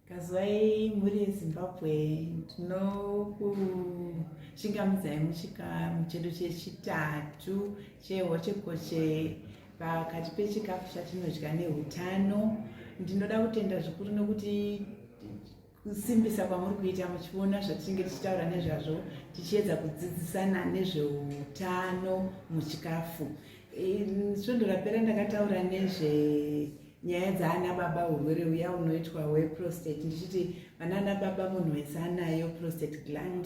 Kazwai mhuri yeZimbabwe tinokuchingamidzai muchika muchedo chechitatu chehochekoche pakati pechikafu chatinodya neutano ndinoda kutenda zvikuru nokuti kusimbisa kwamuri kuita muchiona zvatinenge tichitaura nezvazvo tichiedza kudzidzisana nezveutano muchikafu svondo rapera ndakataura nezve nyaya dzaana baba urwere uya unoitwa hweprostate ndichiti vanaana baba munhu wese anayo prostate gland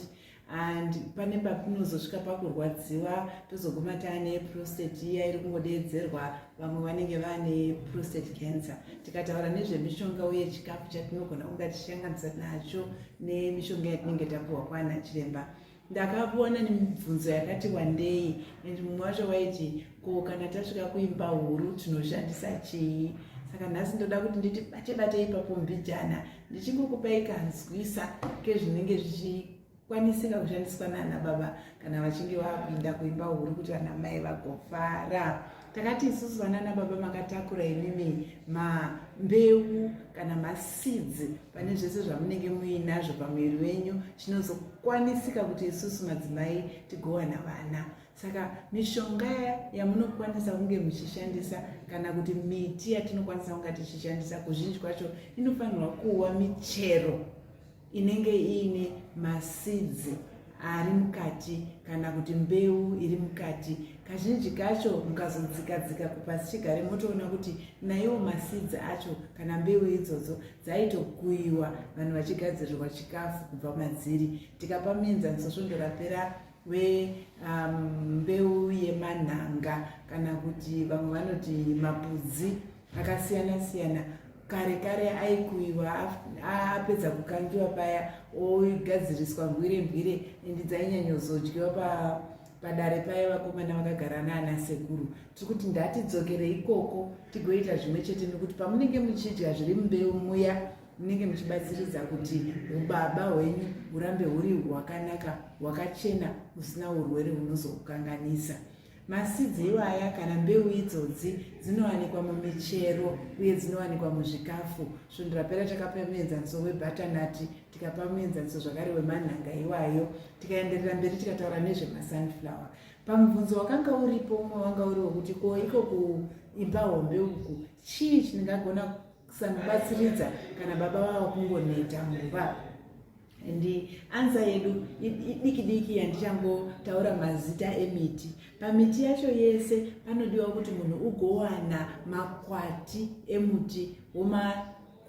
and pane patinozosvika pakurwadziwa tozoguma taane prostate iya iri kungodeedzerwa vamwe vanenge vaane prostate cancer tikataura nezvemishonga uye chikafu chatinogona kunga tichiyanganisa nacho nemishonga yatinenge tapuhwa kwana chiremba ndakavona nemibvunzo yakati wandei and mumwe wacho waiti ko kana tasvika kuimba huru tinoshandisa chii saka nhasi ndoda kuti nditi bate bate ipapo mbijana ndichingokupai kanzwisa kezvinenge zvichikwanisika kushandiswa nana baba kana vachinge vakuinda kuimba huru kuti vana mai vagofara takati isusu vanana baba makatakura imimi mambeu kana masidzi pane zvese zvamunenge muinazvo pamuviri wenyu chinozokwanisika kuti isusu madzimai tigowana vana saka mishonga yamunokwanisa kunge muchishandisa kana kuti miti yatinokwanisa kunga tichishandisa kuzhinji kwacho inofanirwa kuva michero inenge iine masidzi ari mukati kana kuti mbeu iri mukati kazhinji kacho mukazodzikadzika kupasi chigare motoona kuti naiwo masidzi acho kana mbeu idzodzo dzaitokuyiwa vanhu vachigadzirirwa chikafu kubva madziri tikapa mienzaniso svondo rapera wembeu um, yemanhanga kana kuti vamwe vanoti mapudzi akasiyana siyana kare kare aikuiwa apedza kukangiwa paya ogadziriswa mbwire mbwire endi dzainyanyozodyiwa pa padare paye vakomana vakagara naana sekuru tiri kuti ndatidzokere ikoko tigoita zvimwe chete nekuti pamunenge muchidya zviri mumbeu muya munenge muchibatsiridza kuti ubaba hwenyu hurambe huri hwakanaka hwakachena husina urwere hunozokukanganisa masidzi iwaya kana mbeu idzodzi dzinowanikwa mumichero uye dzinowanikwa muzvikafu svondo rapera takapa muenzaniso webhatanati tikapa muenzaniso zvakare wemanhanga iwayo tikaenderera mberi tikataura nezvemasunflower pamubvunzo wakanga uripo umwe wanga uri wekuti ko iko kuimba hombe uku chii chingagona kusamubatsiridza kana baba vava kungoneta mumba and ansa yedu idiki diki yandichangotaura mazita emiti pamiti yacho yese panodiwa kuti munhu ugowana makwati emuti woma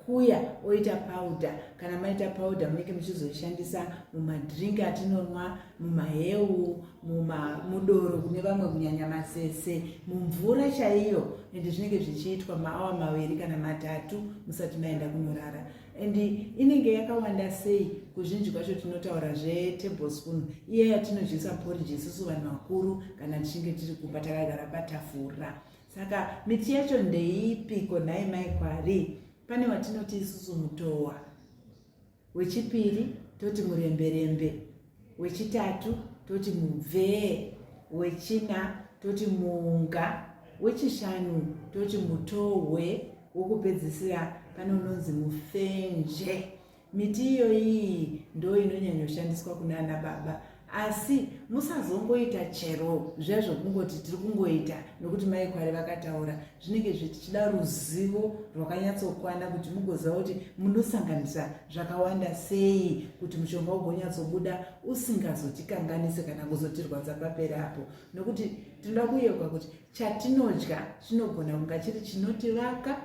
kuya oita powder kana maita powder munenge muchizoishandisa mumadrink atinonwa mumahewu muma mudoro kune vamwe kunyanya masese mumvura chaiyo ende zvinenge zvichiitwa maawa maviri kana matatu musati maenda kunorara and inenge yakawanda sei kuzhinji kwacho tinotaura zvetebospoon iye yatinodyisa poriji isusu vanhu vakuru kana tichinge tiri kumba takagara patafura saka miti yacho ndeipi ko nhai mai kwari pane watinoti isusu mutowa wechipiri toti muremberembe wechitatu toti mubvee wechina toti muunga wechishanu toti mutohwe wokupedzisira pane unonzi mufenje miti iyoyi ndo inonyanyoshandiswa kunana baba asi musazongoita chero zviya zvokungoti tiri kungoita nokuti mai kwari vakataura zvinenge zvichida ruzivo rwakanyatsokwana kuti mugoziva kuti munosanganisa zvakawanda sei kuti mushonga ugonyatsobuda usingazotikanganise kana kuzotirwadza paperi apo nokuti tinoda kuyeuka kuti chatinodya chinogona kunga chiri chinotivaka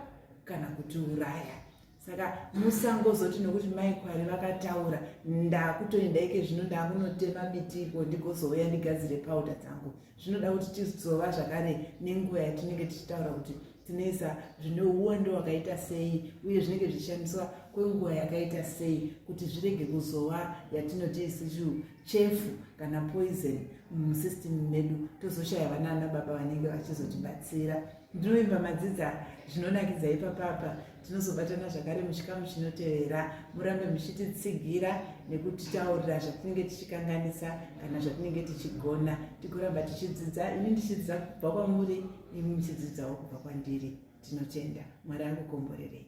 kana kutiuraya saka musangozoti nokuti mai kwari vakataura ndakutoenda ike zvino ndakunotema miti iko ndigozouya ndigadzire pauda dzangu zvinoda kuti tizova zvakare nenguva yatinenge tichitaura kuti tinoisa zvine uwando hwakaita sei uye zvinenge zvichishandiswa kwenguva yakaita sei kuti zvirege kuzova yatinoti isichu chefu kana poison musystem medu tozoshaya vana ana baba vanenge vachizotibatsira mm. Ndinovimba madzidza zvinonakidza ipapapa. Tinozobatana zvakare muchikamu chinotevera. Murambe muchititsigira nekutitaurira zvatinenge tichikanganisa kana zvatinenge tichigona. Tikuramba tichidzidza, ini ndichidzidza kubva kwamuri, imi muchidzidzawo kubva kwandiri. Tinotenda. Mwari akukomborerei.